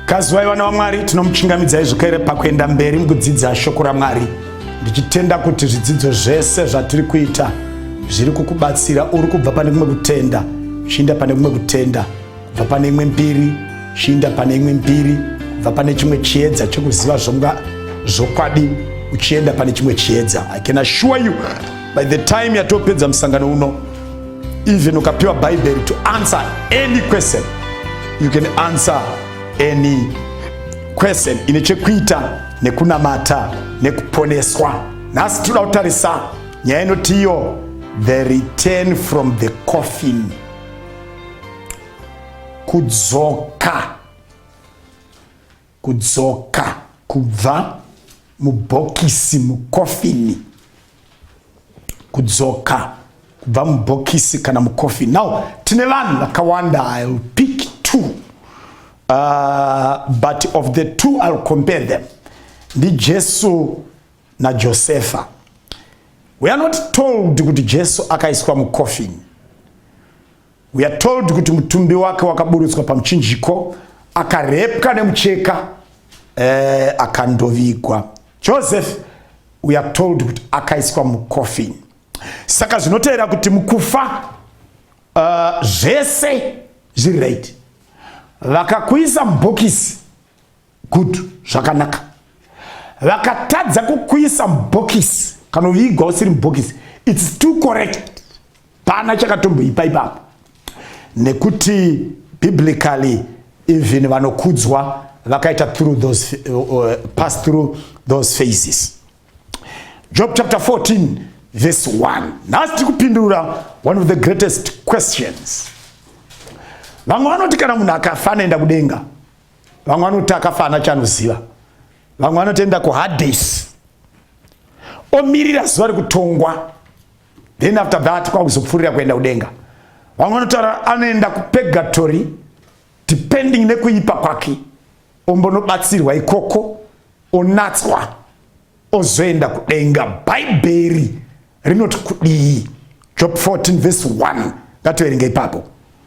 Kazivai vana vaMwari, tinomuchingamidzai zvekere pakuenda mberi mukudzidza shoko raMwari, ndichitenda kuti zvidzidzo zvese zvatiri kuita zviri kukubatsira. Uri kubva pane kumwe kutenda chiinda pane kumwe kutenda, kubva pane imwe mbiri chiinda pane imwe mbiri, kubva pane chimwe chiedza chekuziva zvonga zvokwadi uchienda pane chimwe chiedza. I can assure you by the time yatopedza musangano uno Even ukapiwa bhaibheri to answer any question you can answer any question ine chekuita nekunamata nekuponeswa nhasi tinoda kutarisa nyaya inoti iyo the return from the coffin kudzoka Kudzoka kubva mubhokisi mukofini. Kudzoka kubva mubhokisi kana mukofini. Now tine vanhu vakawanda I will pick two. Uh, but of the two I will compare them. Ndi Jesu na Josefa. We are not told kuti Jesu akaiswa mukofini. We are told kuti mutumbi wake wakaburutswa pamuchinjiko akarepwa nemucheka eh, akandovigwa. Joseph we are told kuti akaiswa mucoffin. Saka zvinotevera kuti mukufa uh, zvese zviri right. Vakakuisa mubhokisi good zvakanaka vakatadza kukuisa mubhokisi kana uvigwa usiri mubhokisi its too correct pana chakatomboipa ipapo nekuti biblically even vanokudzwa vakaita through those uh, uh, pass through those phases job chapter 14 verse 1 nhasi tiri kupindura one of the greatest questions vamwe vanoti kana munhu akafa anoenda kudenga vamwe vanoti akafana chanoziva vamwe vanotoenda kuhades omirira zuva rekutongwa then after that kwakuzopfuurira kuenda kudenga vamwe vanotaura anoenda kupegatory depending nekuipa kwake ombonobatsirwa ikoko onatswa ozoenda kudenga bhaibheri rinoti kudii job 14 vese 1 ngatoverenga ipapo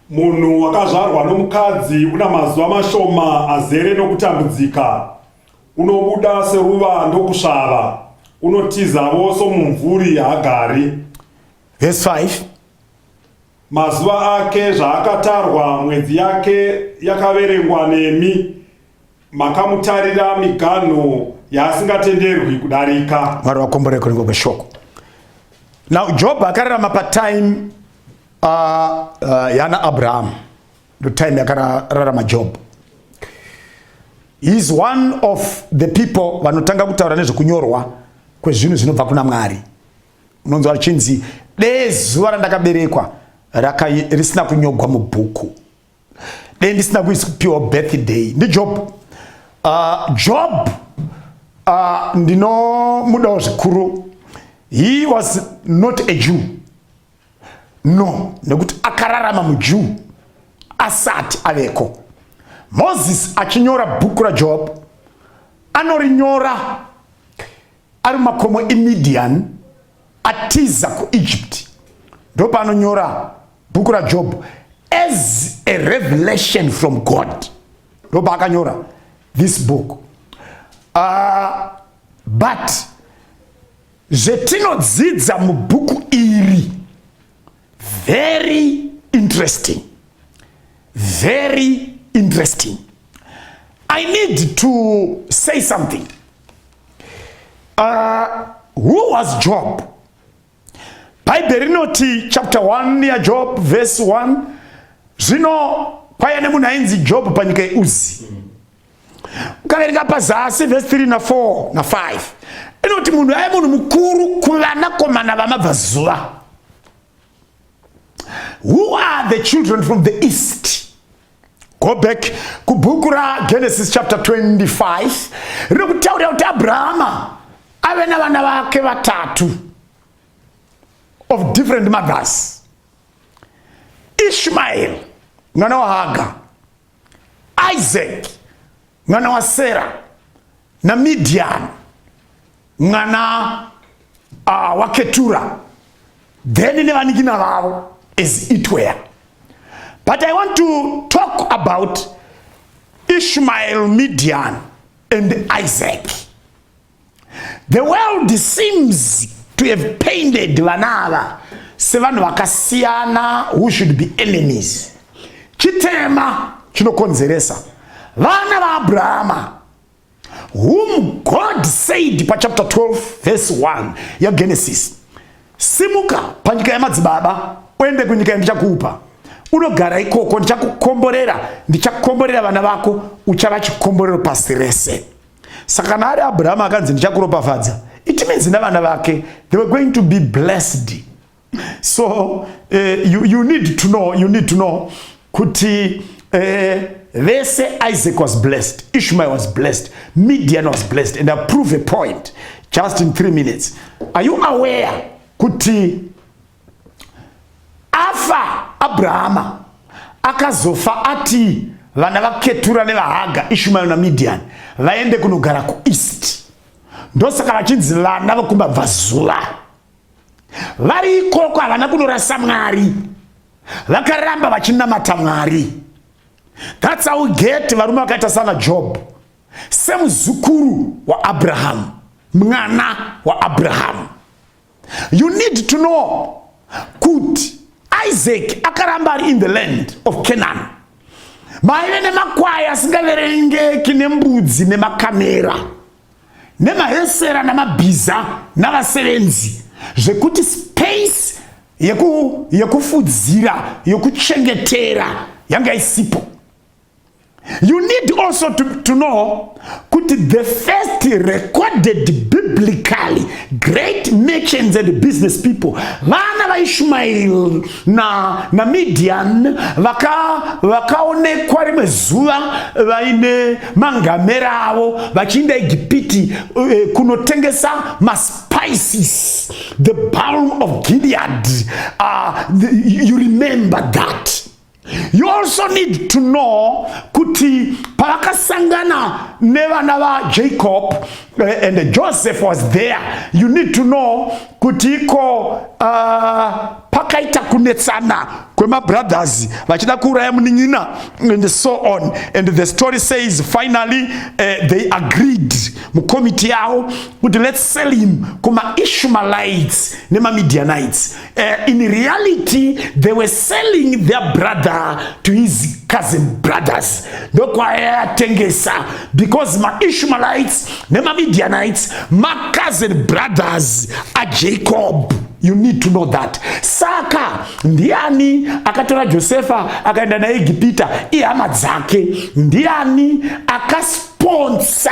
munhu wakazvarwa nomukadzi una mazuva mashoma azere nokutambudzika unobuda seruva ndokusvava unotizavo somumvuri haagari vese 5 mazuva ake zvaakatarwa mwedzi yake yakaverengwa nemi makamutarira miganho yaasingatenderwi kudarika mwari vakombore kuringo kweshoko now job akararama patime uh, uh, yana abraham ndo time yakararama job is one of the people vanotanga kutaura nezvekunyorwa kwezvinhu zvinobva kuna mwari unonzi vachinzi dee zuva randakaberekwa risina kunyogwa mubhuku dei ndisina kuipiwa birthday ndijob uh, job uh, ndinomudawo zvikuru he was not a jew no nekuti akararama mujew asati aveko moses achinyora bhuku rajob anorinyora ari makomo emidian atiza kuegypt ndopaanonyora bhuku rajob as a revelation from god ndopaakanyora this book uh, but zvetinodzidza mubhuku iri very interesting very interesting i need to say something Uh, who was Job? Bhaibheri rinoti chapter 1 yaJob verse 1 zvino kwaiya nemunhu ainzi Job panyika yeUzi. Ukaverenga pazasi verse 3 na 4 na 5 inoti munhu aive munhu mukuru kuvanakomana vamabvazuva. Who are the children from the east? go back kubhuku ragenesis chapter 25 riri kutaurira kuti abrahama ave navana vake vatatu of different mothers ishmael mwana wahaga isaac mwana wasera namidian mwana uh, waketura then nevanikina vavo as it were but i want to talk about ishmael midian and isaac The world seems to have painted vana ava sevanhu vakasiyana who should be enemies. Chitema chinokonzeresa vana vaabrahama whom God said pa chapter 12 verse 1 ya Genesis, simuka panyika yamadzibaba uende kunyika yandichakupa unogara ikoko, ndichakukomborera, ndichakomborera vana vako, uchava chikomborero pasi rese. Saka kana ari Abraham akanzi ndichakuropafadza, it means navana vake they were going to be blessed. So uh, you, you need to know, you need to know kuti uh, they say Isaac was blessed, Ishmael was blessed, Midian was blessed and I prove a point just in three minutes. Are you aware kuti afa abrahama akazofa atii vana vaketura nevahaga ishumayo namidiani vaende kunogara kueast ndosaka vachinzi vana vokumbabvazuva vari ikoko havana kunorasa mwari vakaramba vachinamata mwari thats how get varume vakaita sana job semuzukuru waabrahamu mwana waabrahamu you need to know kuti isaac akaramba ari in the land of canaan maive nemakwai asingaverengeki nembudzi nemakamera nemahesera namabhiza navasevenzi zvekuti space yekufudzira yeku, yekuchengetera yanga isipo You need also to, to know kuti the first recorded biblically great merchants and business people vana vaishumairi na, na midian vakaonekwa vaka rimwe zuva vaine mangamera avo vachiinda egipiti uh, eh, kunotengesa mas spices, the balm of Gilead. Uh, the, you remember that. You also need to know kuti pavakasangana nevana vaJacob eh, and Joseph was there. You need to know kuti iko uh, pakaita kunetsana kwemabrothers vachida kuuraya munin'ina and so on and the story says finally uh, they agreed mukomiti yavo kuti let's sell him kumaishumalites nemamidianites Uh, in reality they were selling their brother to his cousin brothers ndokwayatengesa because maishmaelites nemamidianites macousin brothers ajacob you need to know that saka ndiani akatora josefa akaenda naegipita ihama dzake ndiani akasponsa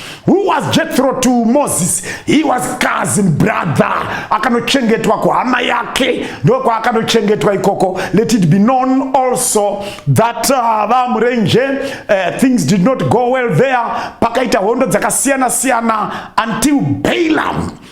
Who was Jethro to Moses? He was cousin brother. Akanochengetwa kuhama yake ndokwaakanochengetwa ikoko. Let it be known also that uh, vamurenje uh, things did not go well there. Pakaita hondo dzakasiyana siyana until Balaam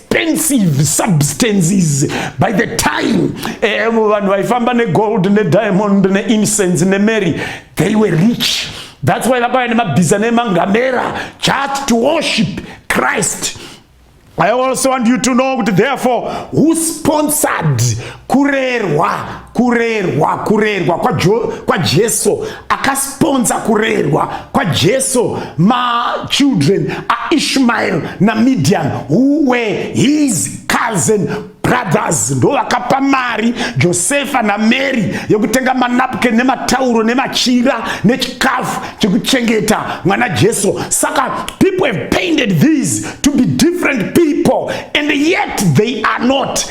expensive substances by the time eh, vanhu vaifamba negold nediamond neincense nemary they were rich that's why vakauya nemabhiza nemangamera just to worship christ i also want you to know kuti therefore who sponsored kurerwa kurerwa kurerwa kwajesu kwa akasponsa kurerwa kwajesu machildren aishmael namidian who were his cousin brothers ndo vakapa mari josefa namary yekutenga manapken nematauro nemachira nechikafu chekuchengeta mwana jesu saka people have painted these to be different people and yet they are not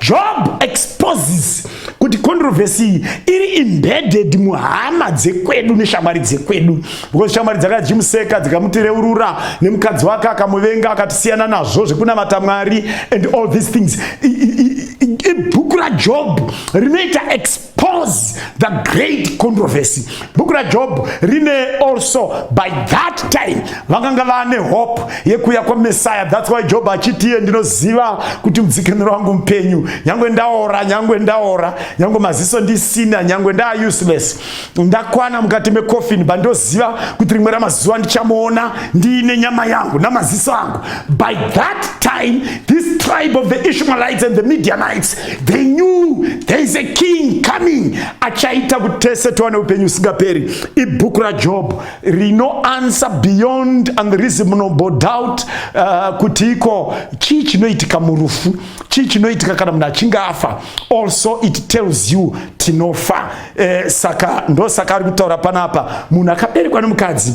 Job exposes kuti controversy iyi iri embedded muhama dzekwedu neshamwari dzekwedu because shamwari dzakajimuseka dzikamutereurura nemukadzi wake akamuvenga akatisiyana nazvo zvekunamata mwari and all these things ibhuku rajob rinoita pause the great controversy bhuku rajob rine also by that time vakanga vane hope yekuuya kwamesaya thats why job achitiye ndinoziva kuti mudzikiniro wangu mupenyu nyange ndaora nyange ndaora nyange maziso ndisina nyange ndaa useless ndakwana mukati mecoffin but ndoziva kuti rimwe ramazuva ndichamuona ndiine nyama yangu namaziso angu by that time this tribe of the ishmaelites and the medianites they knew there is a king coming achaita kuti tese tiwane upenyu usingaperi ibhuku rajob rino answer beyond and reasonable doubt uh, kuti iko chii chinoitika murufu chii chinoitika kana munhu achinge afa also it tells you tinofa eh, saka ndosaka ari kutaura panapa munhu akaberekwa nemukadzi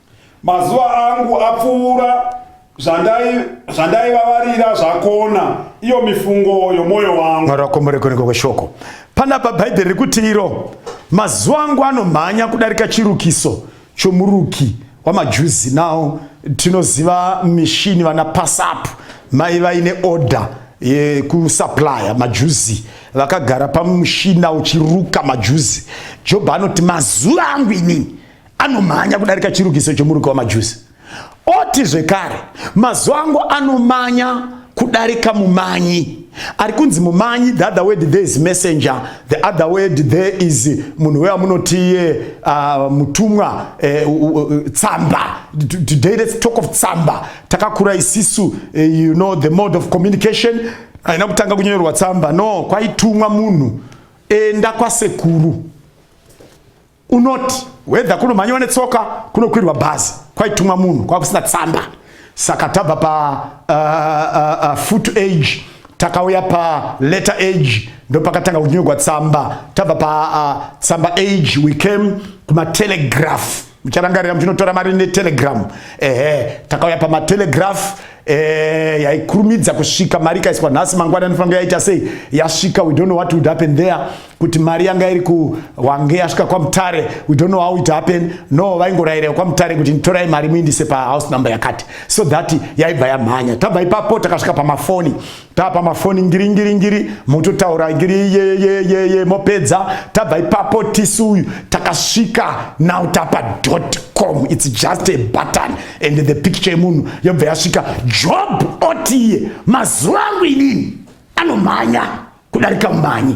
Mazuva angu apfuura zvandaivavarira zvakona iyo mifungo yomwoyo wangu. Mwari wakomorekoneko kweshoko panapa bhaibheri rikuti iro mazuva angu anomhanya kudarika chirukiso chomuruki wamajuzi nawo tinoziva mishini vana pasapu mai vaine order yekusuplya majuzi vakagara pamushina uchiruka majuzi jobho anoti mazuva angu inini anomhanya kudarika chirukiso chomuruki wamajusi oti zvekare mazuva angu anomanya kudarika mumanyi ari kunzi mumanyi the other word there is messenger the other word there is munhu weya munotiye uh, mutumwa eh, uh, uh, uh, tsamba today let's talk of tsamba takakura isisu uh, you know the mode of communication aina kutanga kunyorerwa tsamba no kwaitumwa munhu enda kwasekuru unoti wedha kunomhanyiwa netsoka kunokwirwa bhazi kwaitumwa munhu kwakusina tsamba saka tabva pa uh, uh, uh, foot age takauya pa letter age ndopakatanga kunyorwa tsamba tabva pa uh, tsamba age we came kumatelegraph mucharangarira muchinotora mari netelegram ehe takauya pamatelegraph Eh, yaikurumidza kusvika mari ikaiswa nhasi mangwana anofanira yaita sei yasvika we don't know what would happen there kuti mari yanga iri kuwange yasvika kwamutare we don't know how it happen no vaingorayirira kwamutare kuti nditorai mari muindise pahouse number yakati so that yaibva yamhanya tabva ipapo takasvika pamafoni tapa mafoni ngiri ngiri ngiri mototaura ngiri yeyeyeye mopedza tabva ipapo tisu uyu takasvika now tapa dot com its just a button and the picture yemunhu yobva yasvika job otiye mazuva angu inini anomhanya kudarika mumhanyi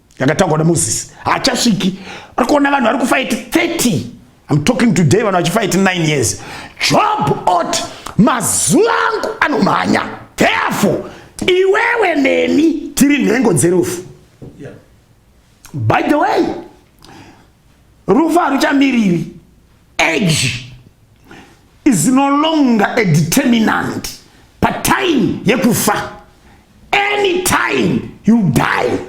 yakataurwa naMoses haachasviki ari kuona vanhu vari kufaiti 30 I'm talking today vanhu vachifaiti 9 years job ot mazuva angu anomhanya therefore iwewe neni tiri nhengo dzerufu yeah. by the way rufu haruchamiriri age is no longer a determinant patime yekufa any time you die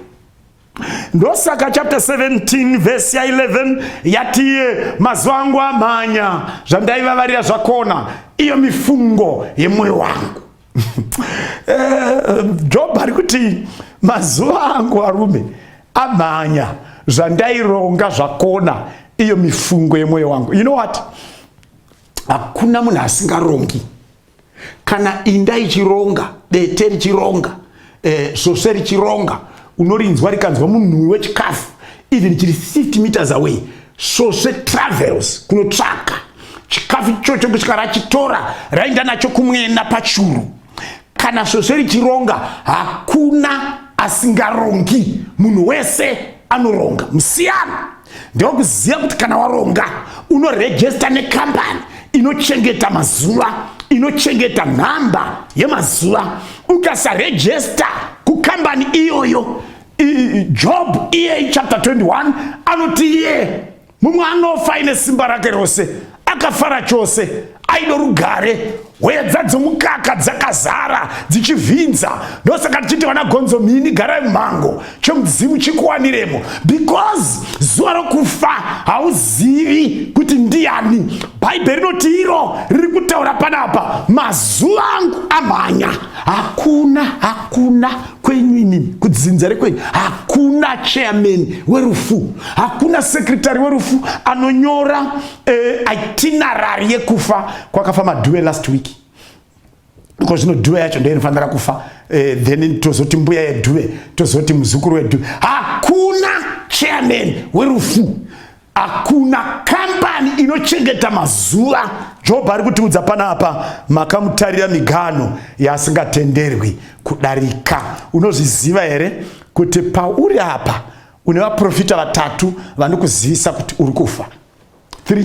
ndosaka chapter 17 vhesi ya 11 yatiye mazuva angu amhanya zvandaivavarira zvakona iyo mifungo yemwoyo wangu Eh, job ari kuti mazuva angu arume amhanya zvandaironga zvakona iyo mifungo yemwoyo wangu you know what hakuna munhu asingarongi kana inda ichironga dete richironga eh, svosve richironga unorinzwa rikanzwa munhuwi wechikafu even chiri 50 meters away svosve travels kunotsvaka chikafu ichocho kusvika rachitora rainda nacho kumwena pachuru kana svosve richironga hakuna asingarongi munhu wese anoronga musiyana ndokuziva kuti kana waronga unoregesta nekambani inochengeta mazuva inochengeta nhamba yemazuva ukasaregesta kukambani iyoyo job iye chapter 21 anoti iye mumwe anofa ine simba rake rose akafara chose aido rugare hweya dzadzomukaka dzakazara dzichivhinza ndosaka tichiti vana gonzo mhini garai mumhango chomudzimu chikuwaniremo because zuva rokufa hauzivi kuti ndiani bhaibheri rinoti iro riri kutaura panapa mazuva angu amhanya hakuna hakuna kwenyu inini kudzinza rekwenyu hakuna chairman werufu hakuna sekretary werufu anonyora eh, itinerary yekufa kwakafa madhuwe last week ko zvino dhuwe yacho ndo inofanira kufa eh, then tozoti mbuya yedhuwe tozoti muzukuru wedhuwe hakuna chairman werufu hakuna kambani inochengeta mazuva jobho ari kutiudza panapa makamutarira migano yasingatenderwi kudarika unozviziva here kuti pauri apa une vaprofita vatatu vanokuzivisa kuti uri kufa 3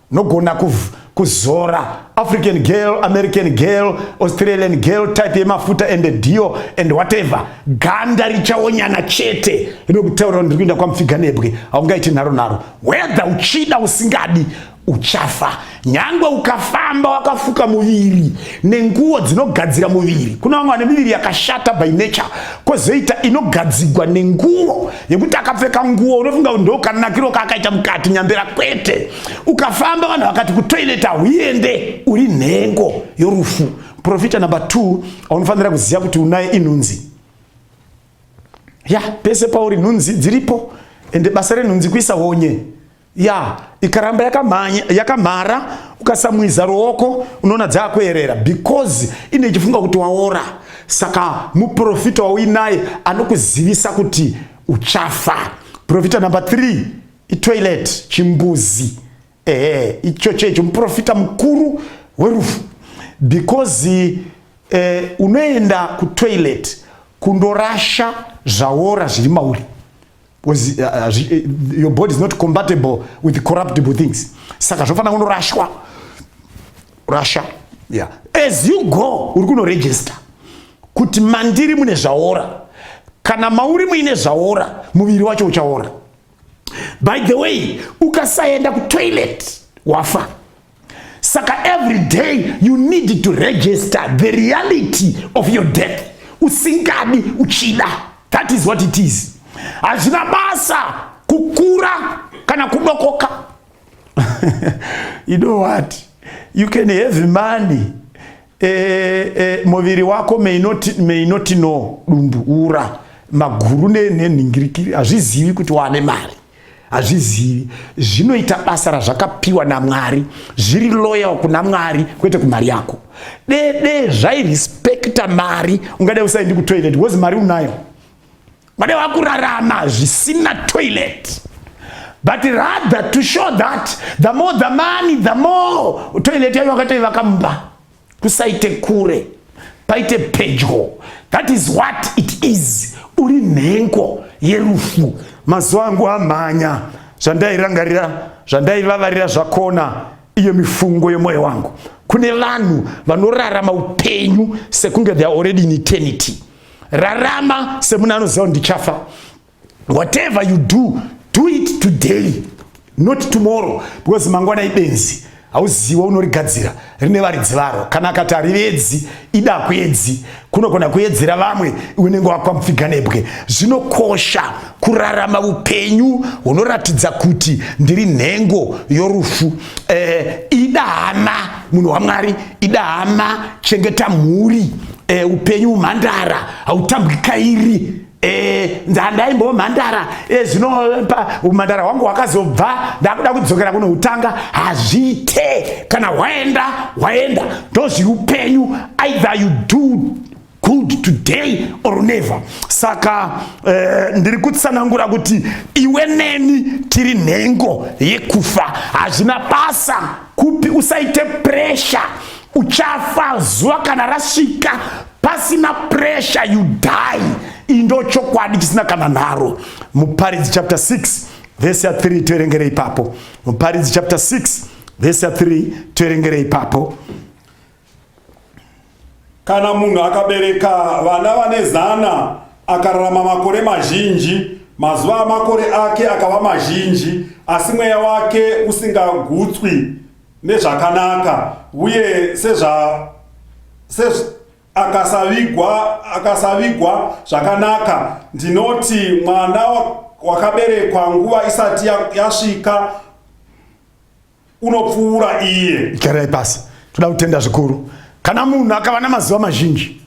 nogona kuzora african girl american girl australian girl type yemafuta ende dio and whatever ganda richaonyana chete rinokutaurira ndiri kuenda kwamupfiga nebwe haungaiti nharo nharo whether uchida usingadi uchafa nyangwe ukafamba wakafuka muviri nenguwo dzinogadzira muviri kuna vamwe vane miviri yakashata by nature kwozoita inogadzigwa nenguwo yekuti akapfeka nguo unofunga kuti ndokanakiro kaakaita mukati nyambera kwete ukafamba vanhu vakati kutoilet hauende uri nhengo yorufu profita number two aunofanira kuziva kuti unaye inhunzi ya pese pauri nhunzi dziripo ende basa renhunzi kuisa honye ya ikaramba yakamhanya yakamhara ukasamwiza ruoko unoona dzaakuerera because ine chifunga kuti waora saka muprofita wauinaye anokuzivisa kuti uchafa profita number 3 itoilet chimbuzi ehe icho checho muprofita mukuru werufu because eh, unoenda kutoilet kundorasha zvaora zviri mauri because uh, uh, uh, your body is not compatible with corruptible things saka zvofanira kunorashwa rasha yeah. as you go uri kunoregister kuti mandiri mune zvaora kana mauri muine zvaora muviri wacho uchaora by the way ukasaenda kutoilet wafa saka every day you need to register the reality of your death usingadi uchida that is what it is hazvina basa kukura kana kudokoka you know what you can have money eh, eh, muviri wako may not, may not know dumbu ura maguru nenhingirikiri hazvizivi kuti wane mari hazvizivi zvinoita basa razvakapiwa namwari zviri loyal kuna mwari kwete kumari yako dede zvairespekta mari ungadai usaendi kutoilet bcause mari unayo ungadai wakurarama zvisina toilet but rather to show that the more the money the more toilet yayo wakatoivaka mumba kusaite kure paite pedyo that is what it is uri nhengo yerufu mazuva angu amhanya zvandairangarira zvandaivavarira zvakona iyo mifungo yemwoyo wangu kune vanhu vanorarama upenyu sekunge they are already in eternity rarama semuna anoziva kuti ndichafa whatever you do do it today not tomorrow because mangwana ibenzi hauziwa unorigadzira rine varidzi varo kana akati harivedzi ida kuedzi kunogona kuedzera vamwe unenge wakwamupfiga nebwe zvinokosha kurarama upenyu hunoratidza kuti ndiri nhengo yorufu eh, ida hama munhu wamwari ida hama chengeta mhuri eh, upenyu umhandara hautambwi kairi Eh, ndandaimboo mhandara eh, zvino umhandara hwangu hwakazobva ndakuda kudzokera kuno kutanga hazviite kana hwaenda hwaenda ndozviupenyu either you do good today or never saka eh, ndiri kutsanangura kuti iwe neni tiri nhengo yekufa hazvina basa kupi usaite pressure uchafa zuva kana rasvika pasina pressure you die indo chokwadi chisina kana nharo muparidzi chapter 6 vese ya 3 toerengere ipapo muparidzi chapter 6 vese ya 3 toerengere ipapo kana munhu akabereka vana vane zana akararama makore mazhinji mazuva amakore ake akava mazhinji asi mweya wake usingagutswi nezvakanaka uye sezva sez akasavigwa akasavigwa zvakanaka ndinoti mwana wakaberekwa nguva isati yasvika ya unopfuura iye garai pasi toda kutenda zvikuru kana munhu akava namazuva mazhinji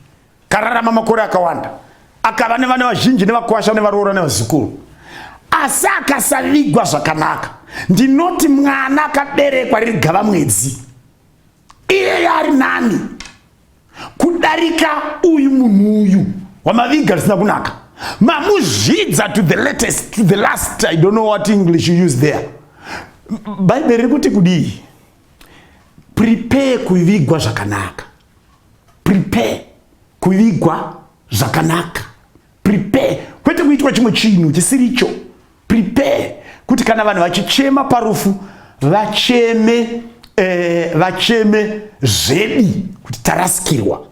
kararama makore akawanda akava nevana vazhinji nevakwasha nevaroora nevazukuru asi akasavigwa zvakanaka ndinoti mwana akaberekwa riri gava mwedzi iyeye ari nani kudarika uyu munhu uyu wamaviga zvisina kunaka mamuzvidza to the latest to the last i don't know what english you use there bhaibheri riri kuti kudii prepare kuvigwa zvakanaka prepare kuvigwa zvakanaka prepare kwete kuitwa chimwe chinhu chisiricho prepare kuti kana vanhu vachichema parufu vacheme eh, vacheme zvedi kuti tarasikirwa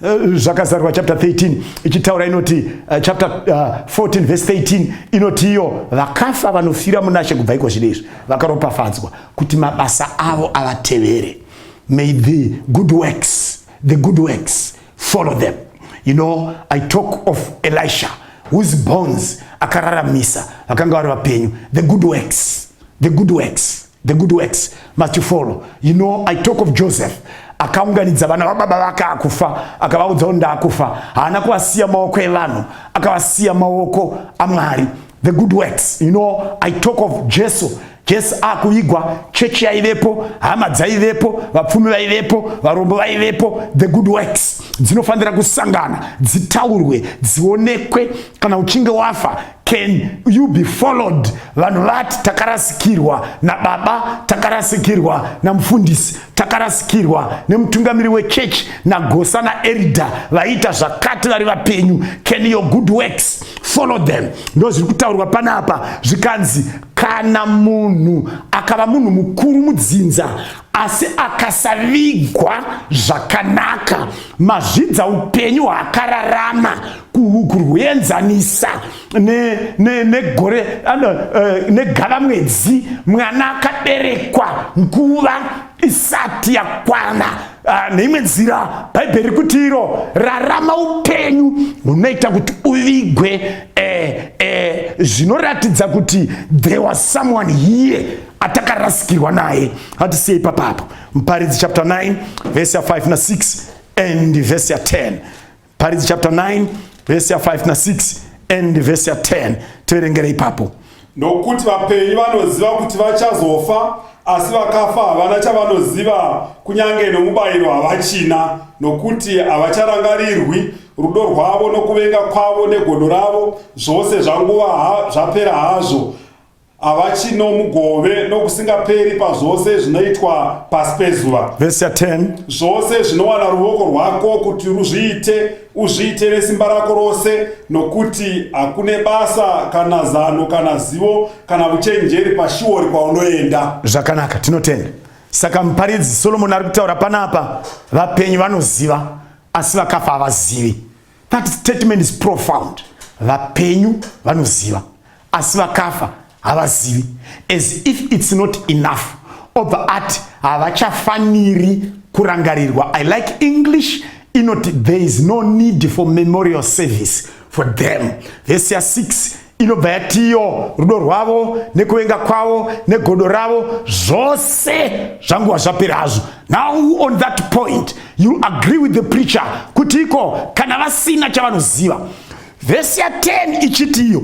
eh, zvakazarwa chapter 13 ichitaura inoti uh, chapter uh, eh, 14 verse 13 inoti iyo vakafa vanofira munashe kubva iko zvino izvi vakaropafadzwa kuti mabasa avo avatevere May the good works, the good works follow them. You know, I talk of Elisha whose bones akararamisa vakanga vari vapenyu. The good works, the good works, the good works must you follow. You know, I talk of Joseph akaunganidza vana vababa vake akufa akavaudza kuti ndakufa. Haana kuvasiya maoko evanhu, akavasiya maoko aMwari. the good works you know i talk of jesu jesu akuvigwa chechi yaivepo hama dzaivepo vapfumi vaivepo varombo vaivepo the good works dzinofanira kusangana dzitaurwe dzionekwe kana uchinge wafa can you be followed vanhu vati takarasikirwa nababa takarasikirwa namufundisi takarasikirwa nemutungamiri wechechi nagosa naerida vaiita zvakati vari vapenyu can your good works follow them ndo zviri kutaurwa panapa zvikanzi kana munhu akava munhu mukuru mudzinza asi akasavigwa zvakanaka mazvidza upenyu hwaakararama kuhuku rwuenzanisa negore eh, negava mwedzi mwana akaberekwa nguva isati yakwana ah, neimwe nzira bhaibheri kuti iro rarama upenyu hunoita kuti uvigwe eh, eh, zvinoratidza kuti there was someone here atakarasikirwa naye hatisiyei papapo muparidzi chapter 9 vese ya 5 na 6 and vese ya 10 Paridzi chapter 9 verse ya 5 na 6 and verse ya 10 tiverengere ipapo. Nokuti vapenyu vanoziva kuti vachazofa asi vakafa havana chavanoziva kunyange nomubayiro havachina nokuti havacharangarirwi rudo rwavo nokuvenga kwavo negodo ravo zvose zvanguva ha, zvapera hazvo ava chino mugove nokusingaperi pazvose zvinoitwa pasi pezuva vhesi ya 10 zvose zvinowana ruvoko rwako kuti ruzviite uzviite nesimba rako rose nokuti hakune basa kana zano kana zivo kana uchenjeri pashiori kwaunoenda zvakanaka tinotenda saka muparidzi solomoni ari kutaura panapa vapenyu vanoziva asi vakafa havazivi That statement is profound. Vapenyu vanoziva asi vakafa havazivi as if it's not enough. Obva ati havachafaniri kurangarirwa. I like English inoti there is no need for memorial service for them. Vhesi ya 6 inobva yatiyo rudo rwavo nekuvenga kwavo negodo ravo zvose zvanguva zvapera hazvo now on that point you agree with the preacher kuti iko kana vasina chavanoziva vhesi ya 10 ichitiyo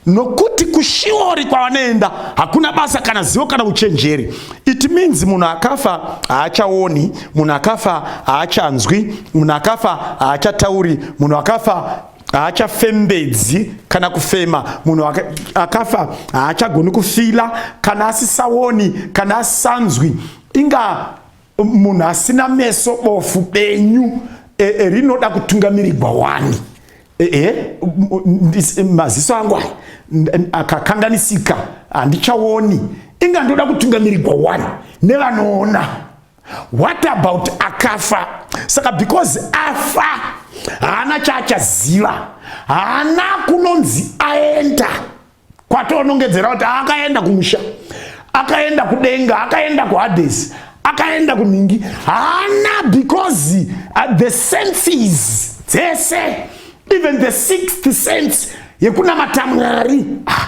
nokuti kushiori kwavanoenda hakuna basa kana zivo kana uchenjeri it means munhu akafa haachaoni munhu akafa haachanzwi munhu akafa haachatauri munhu akafa haachafembedzi kana kufema munhu akafa haachagoni kufila kana asisaoni kana asisanzwi inga munhu asina meso bofu benyu e, e, rinoda kutungamirirwa wani e, e, e maziso angu aya akakanganisika handichaoni inga ndoda kutungamirirwa wani nevanoona what about akafa saka because afa haana chaachaziva haana kunonzi aenda kwatonongedzera kuti akaenda kumusha akaenda kudenga akaenda kuhades akaenda kunhingi haana because uh, the senses dzese even the sixth sense yekunamata mwari ah,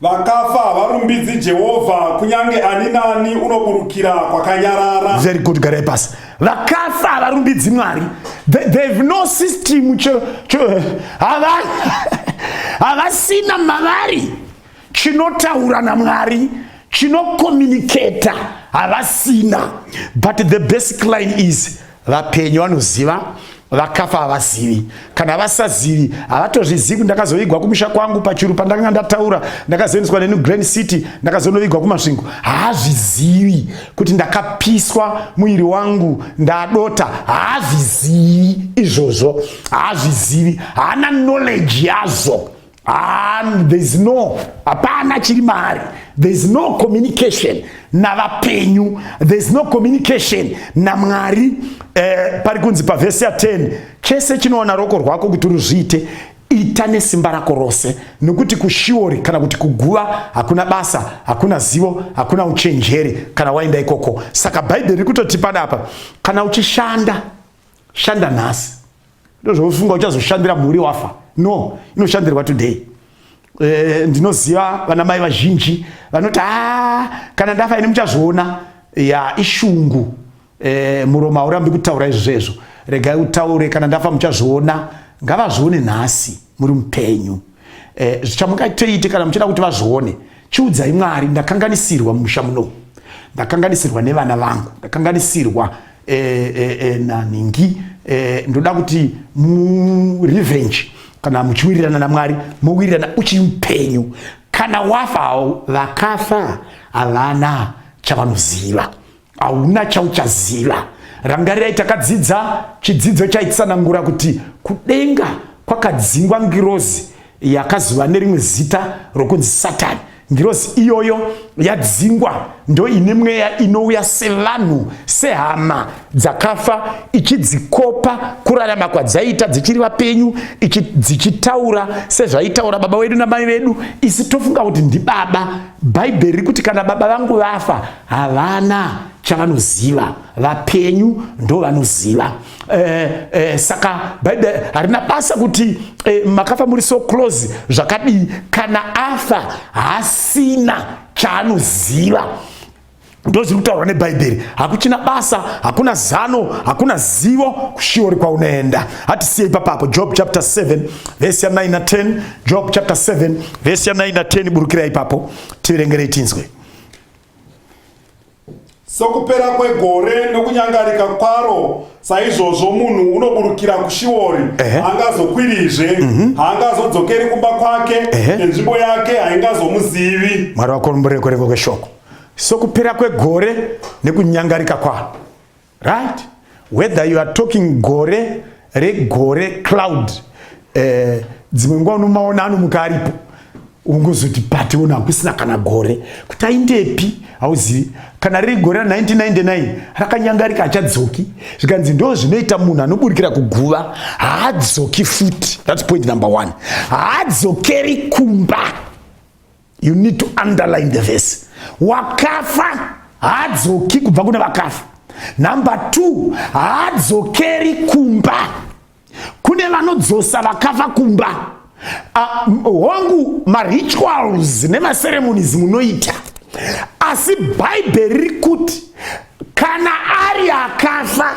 Vakafa havarumbidzi Jehovha, kunyange ani nani unoburukira kwakanyarara. Very good, garai pasi. Vakafa havarumbidzi Mwari. They, they have no system cho, cho, havasina mavari chinotaura naMwari chinokomuniketa havasina but the basic line is vapenyu vanoziva vakafa havazivi kana vasazivi havatozvizivi ndakazoigwa kumusha kwangu pachuru pandakanga ndataura ndakazoendeswa nenew grand city ndakazonovigwa kumasvingo haazvizivi kuti ndakapiswa muviri wangu ndadota haazvizivi izvozvo haazvizivi haana knowledge yazvo and there's no hapana chiri maari there's no communication navapenyu there's no communication namwari eh, pari kunzi pavhesi ya 10 chese chinoona roko rwako kuti ruzviite ita nesimba rako rose nokuti kushiori kana kuti kuguva hakuna basa hakuna zivo hakuna uchenjeri kana waenda ikoko saka bhaibheri riri kutotipa dapa kana uchishanda shanda nhasi ndozvaufunga uchazoshandira mhuri wafa no inoshandirwa today e, ndinoziva vana mai vazhinji vanoti a ah, kana ndafa ini muchazviona ya ishungu e, muromo haurambi kutaura izvozvo regai utaure kana ndafa muchazviona ngavazvione nhasi muri mupenyu eh, zvichamungaiteite kana muchida kuti vazvione chiudzai mwari ndakanganisirwa mumusha muno ndakanganisirwa nevana vangu ndakanganisirwa eh, eh, eh, nanhingi eh, ndoda kuti murevenge kana muchiwirirana namwari mowirirana uchiri mupenyu kana wafawo vakafa havana chavanoziva hauna chauchaziva rangarirai takadzidza chidzidzo chaitsanangura kuti kudenga kwakadzingwa ngirozi yakazova nerimwe zita rokunzi satani ngirozi iyoyo yadzingwa ndo ine mweya inouya sevanhu sehama dzakafa ichidzikopa kurarama kwadzaiita dzichiri vapenyu dzichitaura sezvaitaura baba wedu namai vedu isi tofunga kuti ndibaba bhaibheri rikuti kana baba vangu vafa havana chavanoziva vapenyu ndovanoziva eh, eh, saka bhaibheri harina basa kuti eh, makafa muri so close zvakadii kana afa hasina chaanoziva ndozviri kutaurwa nebhaibheri hakuchina basa hakuna zano hakuna zivo kushiori kwaunoenda hatisiye ipapapo job chapter 7 vesi ya 9 na 10 job chapter 7 vesi ya 9 na 10 burukira ipapo tiverengerei tinzwe Sokupera kwegore nokunyangarika kwaro saizvozvo munhu unoburukira kushiori haangazokwirizve mhm. haangazodzokeri kumba kwake nenzvimbo yake haingazomuzivi mwari wakoromboreko reko kweshoko sokupera kwegore nekunyangarika kwaro right whether you are talking gore regore cloud eh, dzimwe nguva unomaona anomuka aripo ungozoti pati uno hakusina kana gore kuti aindepi hauzivi kana riri gore ra 1999 rakanyangarika achadzoki zvikanzi ndo zvinoita munhu anoburikira kuguva haadzoki futi thats point number one haadzokeri kumba you need to underline the verse wakafa haadzoki kubva kune vakafa number two haadzokeri kumba kune vanodzosa vakafa kumba ah, hongu uh, marituals nemaceremonies munoita asi bhaibheri riri kuti kana ari akafa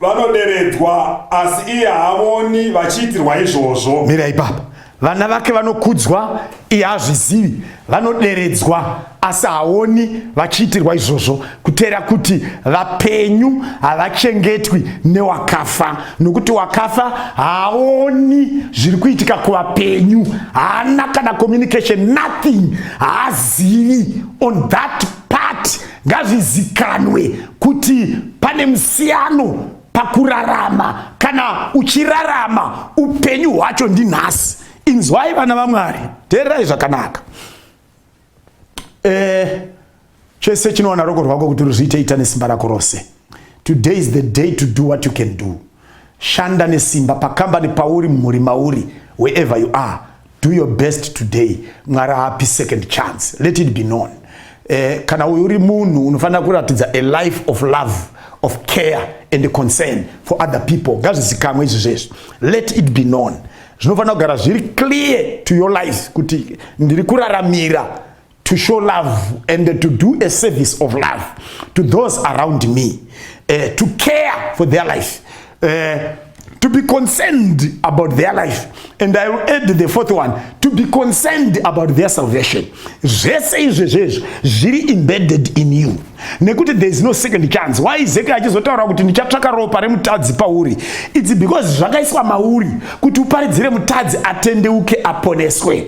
vanoderedzwa asi iye haavoni vachiitirwa izvozvo mira ipapa vana vake vanokudzwa iye hazvizivi vanoderedzwa asi haoni vachiitirwa izvozvo kuteera kuti vapenyu havachengetwi newakafa nokuti wakafa haaoni zviri kuitika kuvapenyu haana kana communication nothing haazivi on that part Ngazvizikanwe kuti pane musiyano pakurarama kana uchirarama upenyu hwacho ndinhasi. Inzwai vana vaMwari, teererai zvakanaka. Eh, chese chinowana roko rwako kuti ruzviite ita nesimba rako rose. Today is the day to do what you can do. Shanda nesimba pakambani pauri mhuri mauri wherever you are do your best today mwari haapi second chance let it be known eh, kana uyu uri munhu unofanira kuratidza a life of love of care and concern for other people ngazvizikamwe izvi zvezvi let it be known zvinofanira kugara zviri clear to your life kuti ndiri kuraramira to show love and to do a service of love to those around me uh, to care for their life uh, to be concerned about their life and i will add the fourth one to be concerned about their salvation zvese izvezvo izvo zviri embedded in you nekuti there is no second chance why zeke achizotaura kuti ndichatsvaka ropa remutadzi pauri its because zvakaiswa mauri kuti uparidzire mutadzi atendeuke aponeswe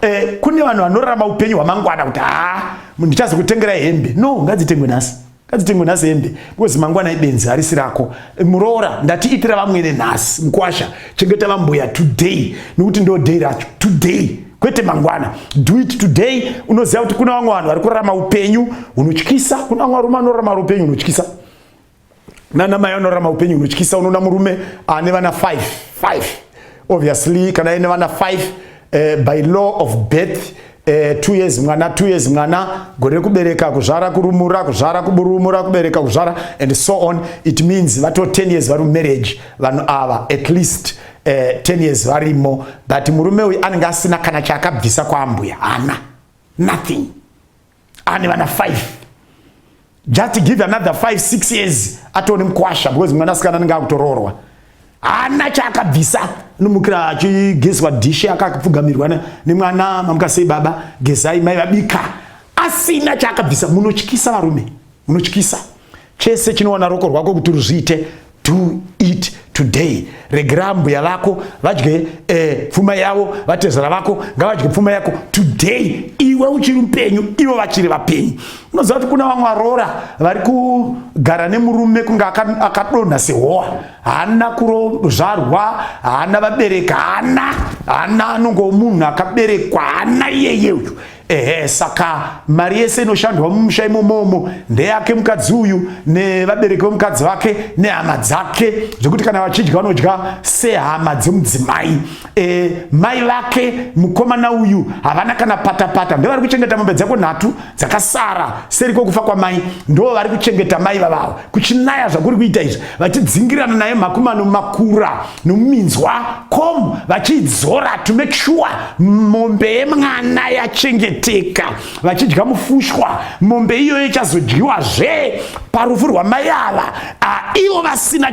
Eh, kune vanhu vanorarama upenyu hwamangwana kuti haa ndichazokutengerai hembe no ngadzitengwe nhasi ngadzitengwe nhasi hembe because mangwana ibenzi harisi rako eh, muroora ndati itira vamwene nhasi mukwasha chengeta vambuya today nekuti ndo day racho today kwete mangwana do it today unoziva kuti kuna vamwe vanhu vari kurarama upenyu hunotyisa kuna vamwe varume vanorarama upenyu hunotyisa nana mai vanorarama upenyu hunotyisa unoona murume ane vana 5 5 obviously kana ine vana 5 uh, eh, by law of birth eh, two years mwana two years mwana gore rekubereka kuzvara kurumura kuzvara kuburumura kubereka kuzvara and so on it means vato 10 years vari mumarriage vanhu ava at least eh, 10 years varimo but murume uyu anenge asina kana chaakabvisa kwaambuya hana nothing ane vana 5 just give another 5 6 years atone mkwasha because mwana sikana anenge akutoroorwa hana chaakabvisa nomukira achigezwa dhishi akapfugamirwa nemwana mamukasei baba gezai mai vabika asina chaakabvisa munotyisa varume unotyisa chese chinowana roko rwako kuti ruzviite do it today regera mbuya vako vadye eh, pfuma yavo vatezera vako ngavadye pfuma yako today iwe uchiri mupenyu ivo vachiri vapenyu unoziva kuti kuna vamwe varoora vari kugara nemurume kunge akadonha sehowa haana kurozvarwa haana vabereka haana haana anongo munhu akaberekwa haana iyeye uyu Ehe, saka mari yese inoshandwa mumusha imomomo ndeyake mukadzi uyu nevabereki vemukadzi vake nehama dzake zvekuti kana vachidya vanodya sehama dzemudzimai e, mai vake mukomana uyu havana kana patapata ndo vari kuchengeta mombe dzako nhatu dzakasara seri kwokufa kwamai ndo vari kuchengeta mai vavavo kuchinaya zvakuri kuita izvi vachidzingirana naye makumano makura nomuminzwa com vachiidzora to make sure mombe yemwana yachengeteka vachidya mufushwa mombe iyoyo ichazodyiwa zve parufu rwamai ava ivo vasina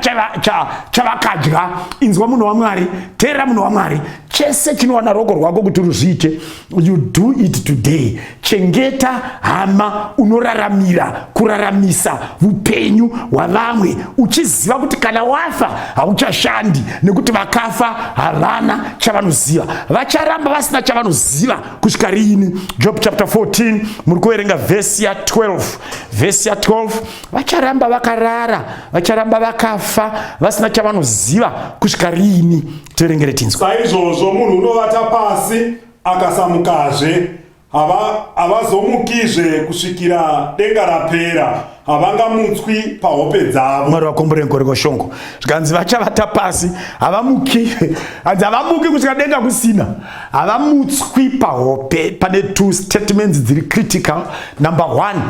chavakadya inzwa munhu wamwari teera munhu wamwari chese chinowana roko rwako kuti ruzviite you do it today chengeta hama unoraramira kuraramisa upenyu hwavamwe uchiziva kuti kana wafa hauchashandi nekuti vakafa havana chavanoziva vacharamba vasina chavanoziva kusvika riini job chapter 14 muri kuverenga vhesi ya 12 vhesi ya 12 vacharamba vakarara vacharamba vakafa vasina chavanoziva kusvika riini tiverengere tinzwe saizvozvo munhu unovata pasi akasamukazve havazomukizve hava kusvikira denga rapera havangamutswi pahope dzavo mwari vakombore nkoreko shongo zvikanzi vachavata pasi havamuki hanzi havamuki kusvika denga kusina havamutswi pahope pane two statements dziri critical number one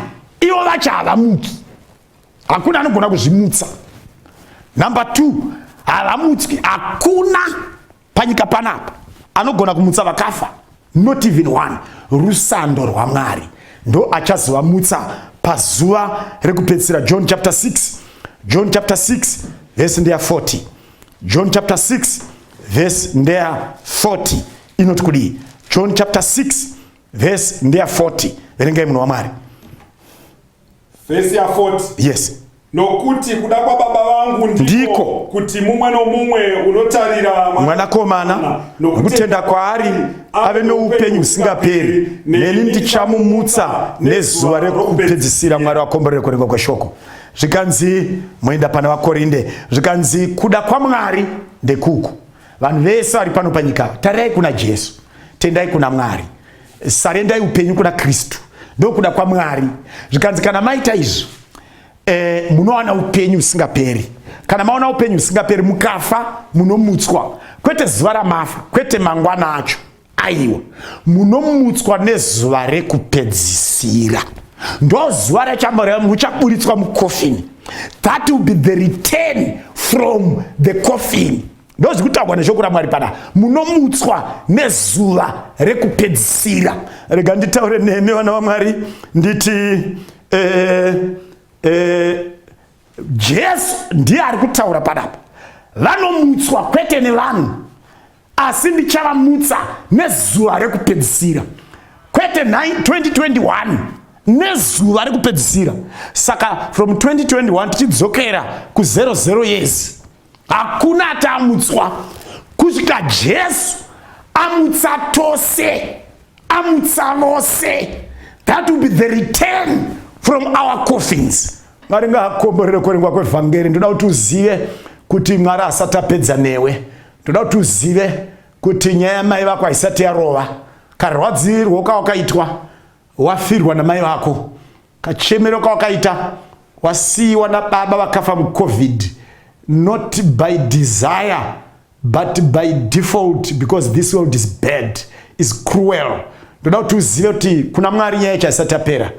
ivo vacha havamuki hakuna anogona kuzvimutsa number two havamutswi hakuna panyika panapa anogona kumutsa vakafa not even one rusando rwamwari ndo achazovamutsa pazuva rekupedzisira john chapter 6 john chapter 6 vhesi ndeya 40 john chapter 6 vhesi ndeya 40 inoti kudii john chapter 6 vhesi ndeya 40 verengai munhu wamwari Vhesi ya 40. Yes. Nokuti kuda kwababa vangu ndiko kuti mumwe nomumwe unotarira mwanakomana nokutenda kwaari ave noupenyu husingaperi, neni ndichamumutsa nezuva rekupedzisira. Mwari wakomborere kurengwa kweshoko. Zvikanzi moenda pana vaKorinde, zvikanzi kuda kwaMwari ndekuku. Vanhu vese vari pano panyika, tarirai kuna Jesu, tendai kuna Mwari. sarendai upenyu kuna kristu ndokuda kwamwari zvikanzi kana maita izvi e, munowana upenyu usingaperi kana maona upenyu usingaperi mukafa munomutswa kwete zuva ramafa kwete mangwana acho aiwa munomutswa nezuva rekupedzisira ndozuva rachamorem uchaburitswa mukofini that will be the return from the coffin ndozvi kutaurwa neshoko ramwari pana munomutswa nezuva rekupedzisira rega nditaure nemi vana vamwari nditi eh, eh, jesu ndiye ari kutaura panapa vanomutswa kwete nevanhu asi ndichavamutsa nezuva rekupedzisira kwete 2021 nezuva rekupedzisira saka from 2021 tichidzokera ku00 years hakuna atamutswa kusvika jesu amutsa tose amutsa vose that will be the return from our coffins mwari ngaakomborere kuverengwa kwevhangeri ndoda kuti uzive kuti mwari asati apedza newe ndoda kuti uzive kuti nyaya yamai vako haisati yarova karwadzirwo kawakaitwa Wafirwa namai vako, kachemero kawakaita, wasiiwa nababa vakafa mucovid, not by desire but by default because this world is bad, is cruel. Ndoda kuti uzive kuti kuna Mwari nyaya yacho haisati yapera.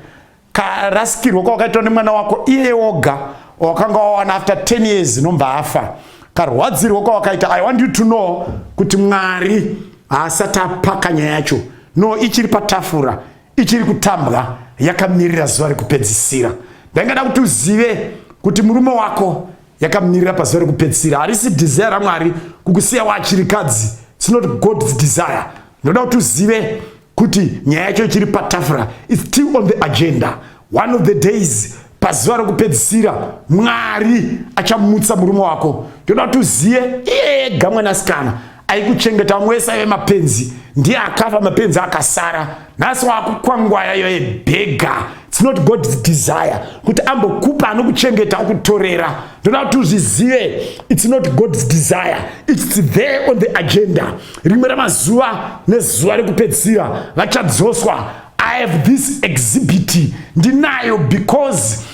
Karasikirwa kwawakaitwa nemwana wako iye woga wakanga wawana after 10 years nomva afa karwadzirwo kwawakaita i want you to know kuti mwari haasati apaka nyaya yacho no ichiri patafura ichiri kutambwa yakamirira zuva rekupedzisira ndaingada kuti uzive kuti murume wako yakamirira pazuva rekupedzisira harisi desire ramwari kukusiya waachirikadzi its not god's desire ndoda kuti uzive kuti nyaya yacho ichiri patafura its still on the agenda one of the days pazuva rokupedzisira mwari achamutsa murume wako ndoda kuti uziye iye ega mwanasikana aikuchengeta vamwe wese aive mapenzi ndiye akafa mapenzi akasara nhasi wakukwangwaya yoye bhega its not god's desire kuti ambokupa anokuchengeta akutorera ndoda kuti uzvizive its not god's desire its there on the agenda rimwe ramazuva nezuva rekupedzisira vachadzoswa I have this exhibit ndinayo because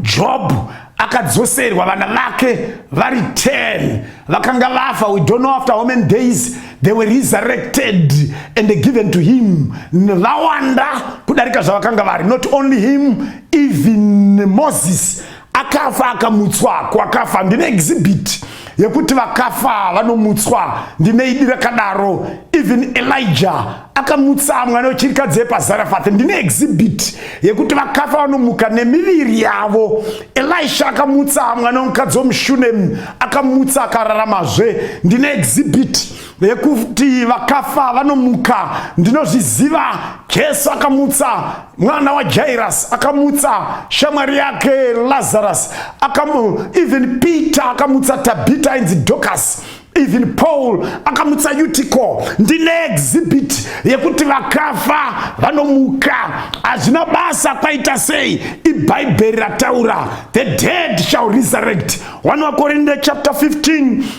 Job akadzoserwa vana vake vari 10 vakanga vafa we don't know after how many days they were resurrected and given to him vawanda kudarika zvavakanga vari not only him even moses akafa akamutswa kwakafa ndine exhibit yekuti vakafa vanomutswa ndine idi rakadaro even elijah akamutsa mwana wechirikadzi yepazarafath ndine exhibit yekuti vakafa vanomuka nemiviri yavo elisha akamutsa mwana wemukadzi wemushunem akamutsa akararamazve ndine exhibit yekuti vakafa vanomuka ndinozviziva jesu akamutsa mwana wajairasi akamutsa shamwari yake lazarus akamu even peter akamutsa tabita ainzi docas even paul akamutsa utico ndine exhibit yekuti vakafa vanomuka hazvina basa kwaita sei ibhaibheri rataura the dead shall resurrect 1 wakorinde chapter 15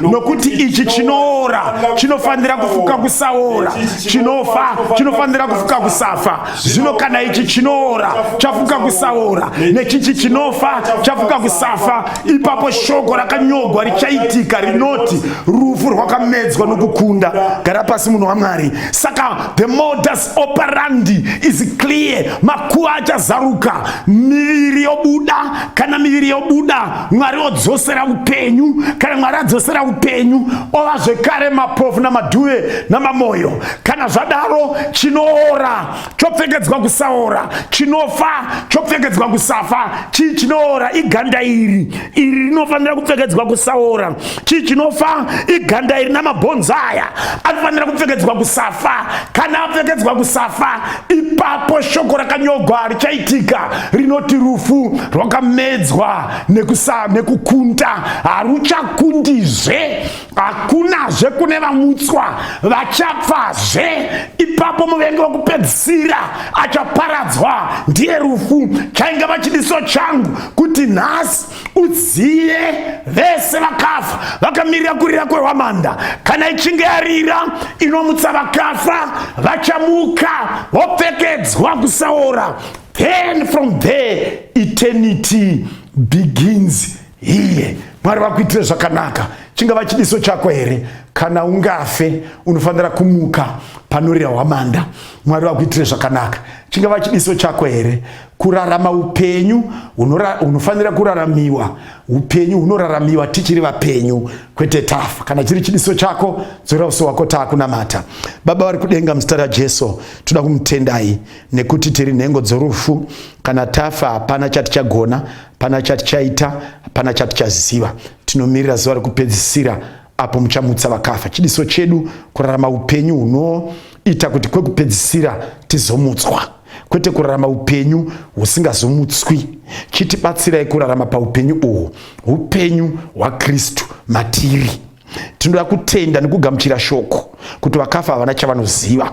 nokuti ichi chinoora chinofanira kufuka kusaora chinofa chinofanira kufuka kusafa zvino kana ichi chinoora chafuka kusaora nechichi chinofa chafuka kusafa ipapo shoko rakanyogwa richaitika rinoti rufu rwakamedzwa nokukunda gara pasi munhu wamwari saka the modus operandi is clear makuva achazaruka miviri yobuda kana miviri yobuda mwari odzosera upenyu kana mwari adzosera upenyu ova zvekare mapofu namadhuve namamoyo kana zvadaro chinoora chopfekedzwa kusaora chinofa chopfekedzwa kusafa chii chinoora iganda iri iri rinofanira kupfekedzwa kusaora chii chinofa iganda iri namabhonzo aya anofanira kupfekedzwa kusafa kana apfekedzwa kusafa ipapo shoko rakanyogwa richaitika rinoti rufu rwakamedzwa nekusa nekukunta haruchakundizve hakunazve kune vamutswa vachapfazve ipapo muvengi wekupedzisira achaparadzwa ndiye rufu chainge vachidiso changu kuti nhasi udziye vese vakafa vakamirira kurira kwehwamanda kana ichinge yarira inomutsa vakafa vachamuka vopfekedzwa kusaora then from there eternity begins here mwari vakuitire zvakanaka chingava chidiso chako here kana ungafe unofanira kumuka panorira hwamanda mwari vakuitire zvakanaka chingava chidiso chako here kurarama upenyu hunofanira kuraramiwa upenyu hunoraramiwa tichiri vapenyu kwete tafa kana chiri chidiso chako dzora uso wako taakunamata baba vari kudenga muzita rajesu toda kumutendai nekuti tiri nhengo dzorufu kana tafa hapana chatichagona hapana chatichaita hapana chatichaziva tinomirira zuva rekupedzisira apo muchamutsa vakafa chidiso chedu kurarama upenyu hunoita kuti kwekupedzisira tizomutswa kwete kurarama upenyu husingazomutswi chitibatsirai kurarama paupenyu uhwu upenyu hwakristu matiri tinoda kutenda nekugamuchira shoko kuti vakafa havana chavanoziva